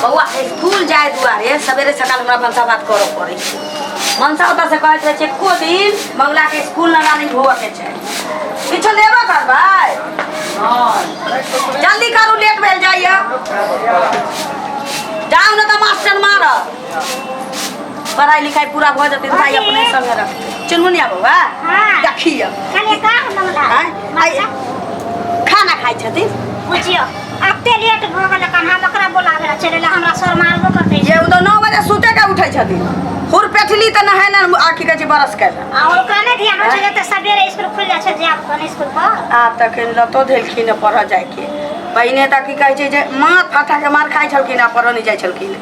बौआ स्कूल जाए दुआरे सवेरे सकाल हमरा मनसा भात करऽ पड़ै छै मनसा ओतऽ से कहैत रहै छै एको दिन बौला के स्कूल ना रानी होबऽ के छै किछो लेबो करबै जल्दी करू लेट भेल जाइए जाउ ने तऽ मास्टर मारब पढ़ाई लिखाई पूरा भऽ जेतै भाई अपने संगे रख चुनमुनिया बौआ हाँ। देखिए कने का हम लगा आँय? आइ- खाना खाइ छथिन बुझियो अते लेट भ गेल कन हम ओकरा बोलावे ला चले ला हमरा सर मारबो कर दे ये उ तो 9 बजे सुते के उठै छथि हुर पेठली त नहाय न आखि के बरस के आ ओकरा ने ध्यान रखे जते सवेरे स्कूल खुल जाय छै जे आप कन स्कूल पर आ तखन लतो धेलखिन पढ़ जाय के पहिने त की कहै छै जे माथ फाटा के मार खाइ छलखिन आ पढ़ नै जाय छलखिन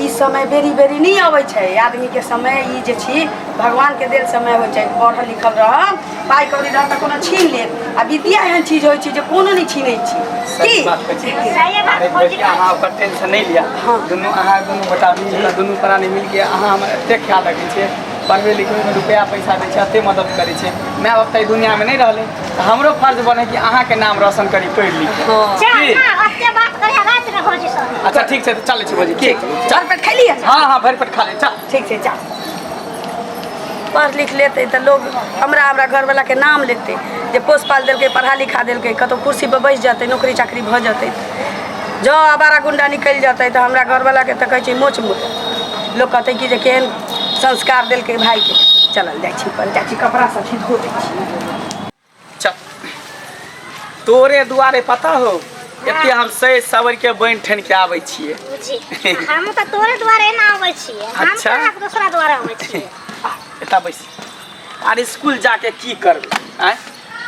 ई समय बेरी बेरी नहीं अबै छै आदमी के समय ई जे छी भगवान के देल समय होइ छै पढ़ल लिखल रह पाई कौड़ी रह तऽ कोनो छीन ले आ विद्या एहन चीज होइ छै जे कोनो नहीं छीनै छी सही की बात कहै छी सही बात अरे खोजी बेटी अहाँ ओकर टेंशन नहीं लिया हाँ। दुनू अहाँ दुनू गोटा मिल कऽ दुनू प्राणी मिल के अहाँ हमर एते ख्याल रखै छियै पढ़बै लिखबै में रुपया पैसा दै छै एते मदद करै छै माय बाप तऽ एहि दुनिया में नहीं रहलै तऽ हमरो फर्ज बने कि अहाँके नाम रोशन करी पढ़ि लिख के। जा की? जा ओते बात करे रात में भौजी सब अच्छा ठीक छै तऽ चलै छी भौजी ठीक चार पेट खा लिया हँ हँ भरि पेट खा ले चल ठीक छै जा पढ़ लिख लेते तऽ लोग हमरा हमरा घरवाला के नाम लेते जे पोस पाल देलकै पढ़ा लिखा देलकै कतौ कुर्सी पर बैस जेतै नौकरी चाकरी भऽ जेतै जँ आवारा गुंडा निकलि जेतै तऽ हमरा घरवाला के तऽ कहै छै मोच मुत लोग कहतै कि जे केहन संस्कार देलकै भायके चलल जाइ छी पर जाइ छी कपड़ा सब छी धो दै छी चल तोरे दुआरे पता हो एते हम सै सबर के बनि ठन के आबै छियै बुझी हम तऽ तोरे दुआरे एना अबै छियै हम अच्छा। कहाँ दोसरा दुआरे अबै छियै आ, एतऽ बैस आर इसकुल जाके की करबै आँय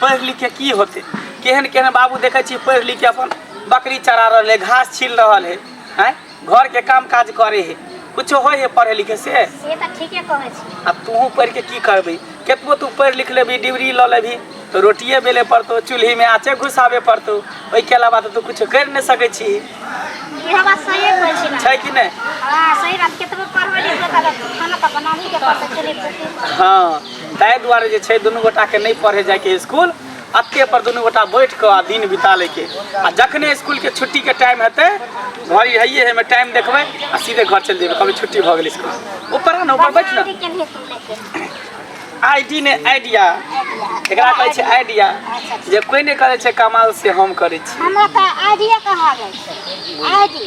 पढ़ि लिख के की होतै केहन केहन बाबू देखै छी पढ़ि लिख के अपन बकरी चरा रहल है घास छील रहल है आँय घर के काम काज करे है कुछो होय है पढ़े लिखे से से तऽ ठीके कहै छी आ तूहू पढ़ि के की करबी केतबो तू पढ़ि लिख लेबी डिग्री लऽ लेबी तो रोटिए बेले पड़तो चूल्ही में आँचे घुसाबे पड़तो ओहिके अलावा तऽ तू कुछो करि नहि सकै छी इहो बात सही कहै छी ना छै कि नहि हाँ सही बात केतबो पढ़बै लिख लेबै तऽ खाना तऽ बनाही के पड़तै चूल्ही फूकी हाँ ताहि दुआरे जे छै दुनू गोटाके नहि पढ़े जायके स्कूल अत्ते पर दुनू गोटा बैठ कऽ आ दिन बिता लै के आ जखने स्कूल के छुट्टी के टाइम हेतै घर रहिए हेमे टाइम देखबै आ सीधे घर चलि जेबै कभी छुट्टी भऽ गेल स्कूल ऊपर आ ने ऊपर बैठ ने केने सुनले के आइडी ने आइडिया एकरा कहै छै आइडिया जे कोई नहि करै छै कमाल से हम करै छी हमरा तऽ आइडिया कहा जाइ छै आइडी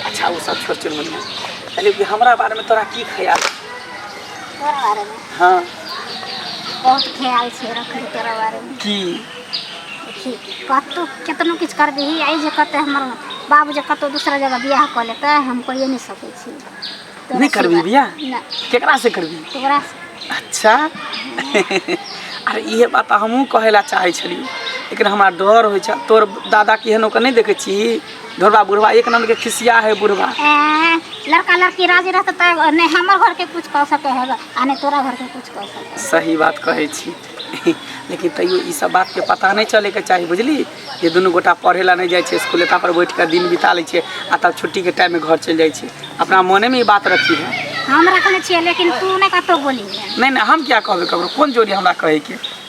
अच्छा ओ सब छोड़ चुन मुनिया कहलियै कि हमरा बारेमे तोरा की ख्याल तोरा बारे में हाँ बहुत ख्याल छै रखली तोरा बारे में की देखी कतहु केतनो किछु कर दही आइ जे कतऽ हमर बाबू जे कतहु दूसरा जगह बियाह कऽ लेतै हम कहिए नहि सकै छी तोरा नहि करबी सिवा- बियाह? नहि केकरा से करबी तोरा से- अच्छा अरे इहे बात हमहूँ कहै लए चाहै छलियै लेकिन हमरा डर होइ छै तोर दादा केहन ओकर नहि देखै छी बुढ़वा बुढ़वा एक नंबर के खिसिया है बुढ़वा ए, लड़का लड़की राजी रहते तो नहीं हमर घर के कुछ कह सके है आ नहीं तोरा घर के कुछ कह सके है। सही बात कहै छी लेकिन तैयो ई सब बात के पता नहीं चले के चाही बुझली जे दुनू गोटा पढ़े ला नहीं जाइ छै स्कूल एता पर बैठ के दिन बिता लै छै आ तब छुट्टी के टाइम में घर चलि जाइ छै अपना मोने में ई बात रखी है हम रखने छियै लेकिन तू नहीं कतौ बोली है नहीं नहीं हम क्या कहबे ककरो कोन जोड़ी हमरा कहै के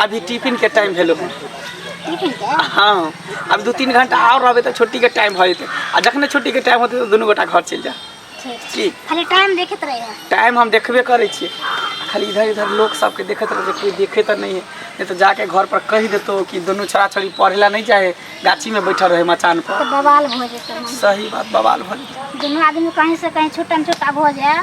अभी टिफिन के टाइम भेलो है हाँ अब दू तीन घंटा और रहबे तो छुट्टी के टाइम हो जेतै आ जखने छुट्टी के टाइम होते तो दुनू गोटा घर चलि जाए की खाली टाइम देखैत रहै है टाइम हम देखबे करै छियै खाली इधर इधर लोक सबके देखैत रहै कोई देखै तऽ नहि है नहि तऽ जाके घर पर कहि देतौ कि दुनू छोड़ा छोड़ी पढ़े ला नहि जाए गाछी में बैठल रहे मचान पर तऽ बवाल भऽ जेतै सही बात बवाल भऽ जेतै दुनू आदमी कहीं से कहीं छुट्टन छुट्टा भऽ जाए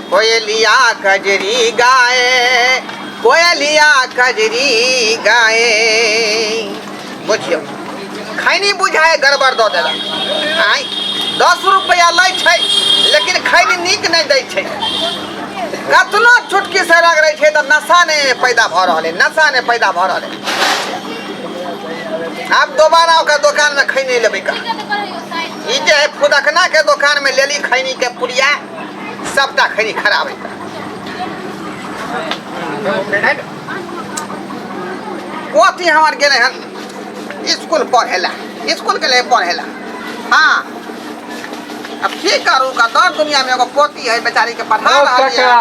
कोयलिया कजरी गाए कोयलिया कजरी गाए बुझियो खैनी बुझाए गड़बड़ दऽ देलक आँय दस रुपैआ लै छै लेकिन खैनी नीक नहि दै छै कतनो चुटकी से रग रहै छै तऽ नशा नहि पैदा भऽ रहल है नशा नहि पैदा भऽ रहल है आब दोबारा ओकर दोकानमे खैनी लेबै का ई जे है फुदकनाके दोकानमे लेली खैनीके पुड़िया सबटा खरी खराब है ओती हमार गेले हन स्कूल पढ़ेला स्कूल के लिए पढ़ेला हाँ अब की करू का दर दुनिया में एगो पोती है बेचारी के पढ़ा ओ रहल काका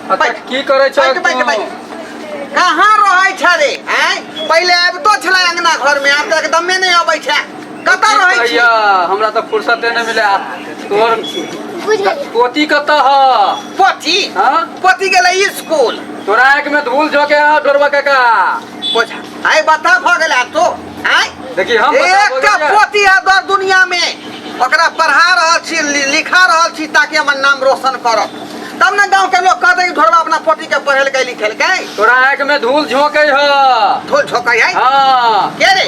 है अच्छा की करै छौ बैठ बैठ बैठ तू कहाँ रहै छ रे आँय पहिले आबितो छलै अङ्गना घरमे आब तऽ एकदमे नहि अबै छै कतऽ रहै छी भैया हमरा तऽ फुर्सते नहि मिले आ तोर बुझ गेलियै पोती कतऽ ह पोथी हाँ? पोथी गेलै स्कूल तोरा आँखि में धूल झोंके ह डोरबा काका पोछ आइ बता भऽ गेल आ तो आइ देखी हम बता भऽ एकटा गेलियै। पोथी है दर दुनिया में ओकरा पढ़ा रहल छी लि- लिखा रहल छी ताकि हमर नाम रोशन करब तब ने गाँव के लोग कहते कि ढोरबा अपना पोती के पढ़ेलकै लिखेलकै तोरा आँखि में धूल झोंके ह धूल झोंकै है हाँ के रे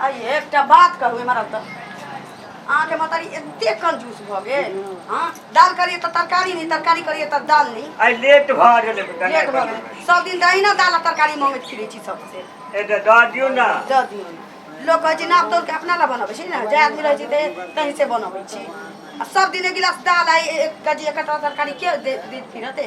आइए एकटा बात कहू एम्हर आउ तऽ अहाँके मतारी एते कंजूस भऽ गेल हँ दाल करिए तऽ तरकारी नहि तरकारी करिए तऽ दाल नहि आइ लेट भऽ गेलै बेटा लेट भऽ गेल सब दिन दहिना दाल आ तरकारी मंगैत फिरै छी सबसे ए तऽ दऽ दियौ ने दऽ दियौ ने। लोक कहै छै नाप तोल के अपना लए बनबै छी ने जे आदमी रहै छै ते- तहीं से बनबै छी आ सब दिन एक गिलास दाल आ एक केजी एकटा तरकारी के दे- देत फिरते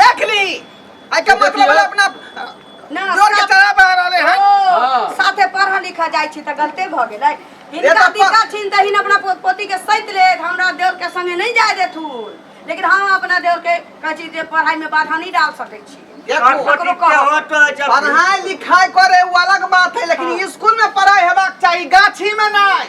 देख ली आई के मतलब देखियो। है अपना ना ना, जोर के चला बहा रहले हैं ओ, हाँ। साथे पढ़ लिखा जाय छी त गलते भ गेलै ये इनका तो प- दिक्कत छिन तहिन अपना पो- पोती के सैत ले हमरा देवर के संगे नहीं जाय देथु लेकिन हम अपना देवर के कहै छी जे पढ़ाई में बाधा नहीं डाल सकै छी देखो ककरो कहो। पढ़ाई लिखाई करे वो अलग बात है लेकिन स्कूल में पढ़ाई हेबाक चाहिए गाछी में नहीं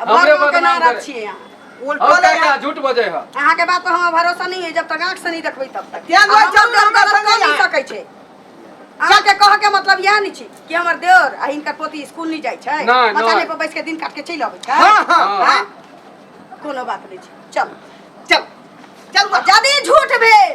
अब हमरे भगवान के बदनाम नाम करे। रखिए यहाँ और उल्टो का ले क्या झूठ बजे है अहाँ के बात पर हमरा भरोसा नहीं है जब तक आँख से नहीं देखबै तब तक तें दुआरे आ चल हमर देह गलत कर देह गलत कर नहीं यहाँ। सकै छै अहाँ के कह के मतलब यह नहीं छी कि हमर देवर आ हिनकर पोती स्कूल नहीं जाइ छै नहि, मचाने नहि। पर बैस के दिन काट के चलि अबै छै हाँ, हाँ, हाँ। कोनो बात नहीं छै चल चल चल आ यदि झूठ भेल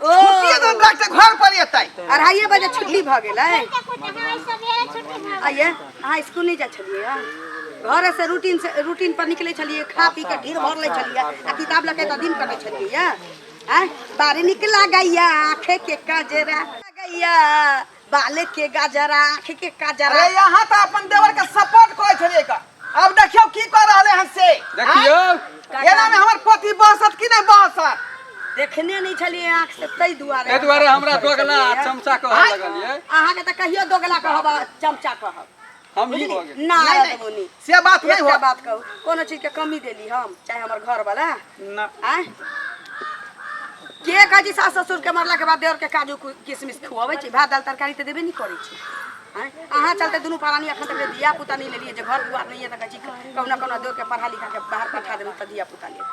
ओ छुट्टिए दिन डॉक्टर घर पर एतै अढ़ाइए बजे छुट्टी भऽ गेलै आइए अहाँ स्कूल नहीं जा छलिए हँ? घरे से रूटीन से रूटीन पर निकले छलिए खा पी के ढीर भर ले छलिए आ किताब लऽ के तऽ दिन कटे छलिए हँ? आँय बारी निकला गैया आँखे के काजरा गैया बाले के गाजरा आँख के काजरा अरे यहाँ तो अपन देवर के सपोर्ट करे छलिए का अब देखियो की कर रहले हन से देखियो एना में हमर पति बहसत कि नहीं बहसत देखने नहीं छलिए आँख से तई दुआरे ए दुआरे हमरा दोगला आ चमचा कहऽ लगलिए अहाँ के तो कहियो दोगला कहब आ चमचा कहब हम ही बुझली? भऽ गेली। ना नहीं, रहत मुनी। से बात नहीं एकटा हो बात कहू कोनो चीज के कमी देली हम चाहे हमर घर वाला ना आय के कहै छी सास ससुर के मरला के बाद देवर के काजू कु- किशमिश खुआबै छी भात दाल तरकारी तऽ देबे नहि करै छी आँय अहाँ चलते दुनू प्राणी एखन तक धिया पुता नहि लेलियै जे घर दुआर नहि यऽ तऽ कहै छी कहुना कहुना देवर के पढ़ा लिखा के बाहर पठा देबै तऽ धिया पुता लेब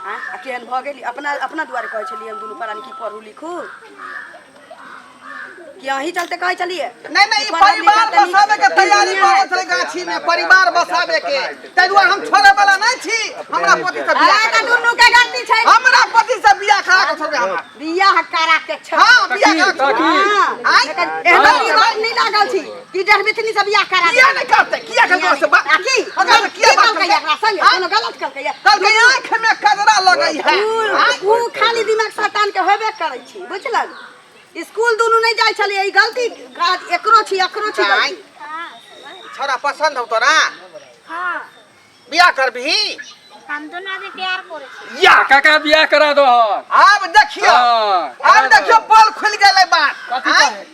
आँय आ केहन भऽ गेली अपना अपना दुआरे कहै छलियै हम दुनू प्राणी की पढ़ू लिखू कि अही चलते कहे चलिए नहीं नहीं ई परिवार बसावे के तैयारी करत रहे गाछी में परिवार बसावे के तै दुआरे हम छोड़े वाला नहीं छी हमरा पति से बियाह अरे करा। दुनू के गलती छै हमरा पति से बियाह करा के छोड़बे हमरा बियाह करा के छै हां बियाह करा के छोड़बे। हाँ। आँय? एहन आँय? दिमाग नहीं लागल छी कि जहर बिथनी से बियाह करा किया नहीं करते किया के तोरा से बात आ की अगर की किया बात कहलकै एकरा संगे हाँ? कोनो गलत कहलकै कहलकै आँख में कजरा लगई है ऊ- ऊ खाली दिमाग शैतान के होबे करै छी बुझलन स्कूल दुनू नहीं जाए छलिए ई गलती काज एकरो छी एकरो छी गलती छोरा पसंद हो तोरा हां बियाह करबी हम दोनों अभी प्यार करे छी या काका बियाह करा दो अब देखियो हां अब देखियो पोल खुल गेलै बात कथि कहे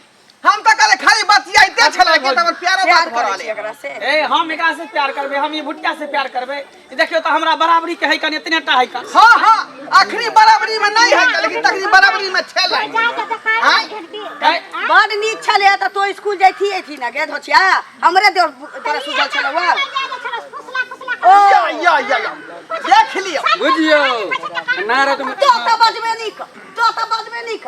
हम त कहले खाली बतियाइते छला के त प्यार बात करले ए हम एकरा से प्यार करबे हम ई भुट्टा से प्यार करबे देखियो तो हमरा बराबरी के है कन इतने टा है कन हां हां आखिरी बराबरी में नहीं है लेकिन तखनी बराबरी में छेल हां बड़ नीक छले त तो स्कूल जाइथी एथी ना गे धोछिया हमरे देर तोरा सुझल छलवा ओ या या या देख लियो बुझियो नारा तुम तो त बजबे नीक तो त बजबे नीक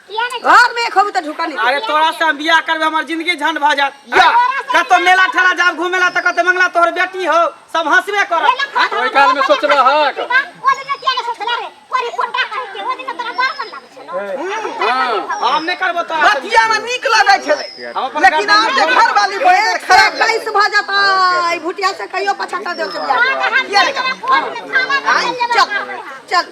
घर में खबू त ढुका नहीं अरे तोरा से हम बियाह करबे हमर जिंदगी झंड भ जात या। कतो मेला ठेला जाब घूमेला त कते मंगला तोहर बेटी हो सब हंसबे कर ओहि काल में सोचले हक। हम नहीं करबो तो बतिया में निक लगे छले हम अपन लेकिन आप के घर वाली बहन खराब लगे कैसे भ जाता ई भुटिया से कहियो पछाता देव के बियाह किया रे का? चल चल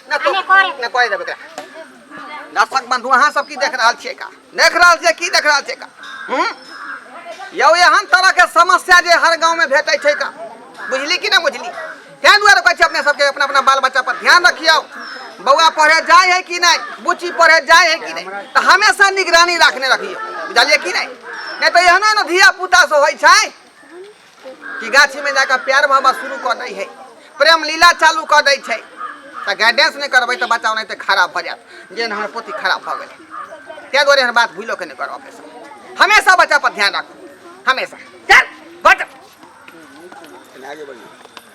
ना तो अने करे। ना करे देबे एकरा दर्शक बंधु अहाँ सब की देख रहल छियै का देख रहल छियै की देख रहल छियै का हूँ यौ एहन तरह के समस्या जे हर गांव में भेटै छै का बुझली कि ना बुझली तैं दुआरे कहै छी अपने सबके अपना अपना बाल बच्चा पर ध्यान रखियौ बौआ पढ़े जाय है कि नहीं बुच्ची पढ़े जाय है कि नहीं तऽ हमेशा निगरानी राखने रखियौ बुझलियै कि नहीं नहि तऽ एहने ने धिया पुता सब होइ छै कि गाछी में जाकर प्यार मोहब्बत शुरू कर दै है प्रेम लीला चालू कर दै छै तऽ गाइडेंस नहि करबै तऽ बच्चा ओनाहिते खराब भऽ जायत जेहन हमर पोती खराब भऽ गेलै ताहि दुआरे एहन बात भूलो के नहि करब अपने सब हमेशा बच्चा पर ध्यान राखू हमेशा चल बट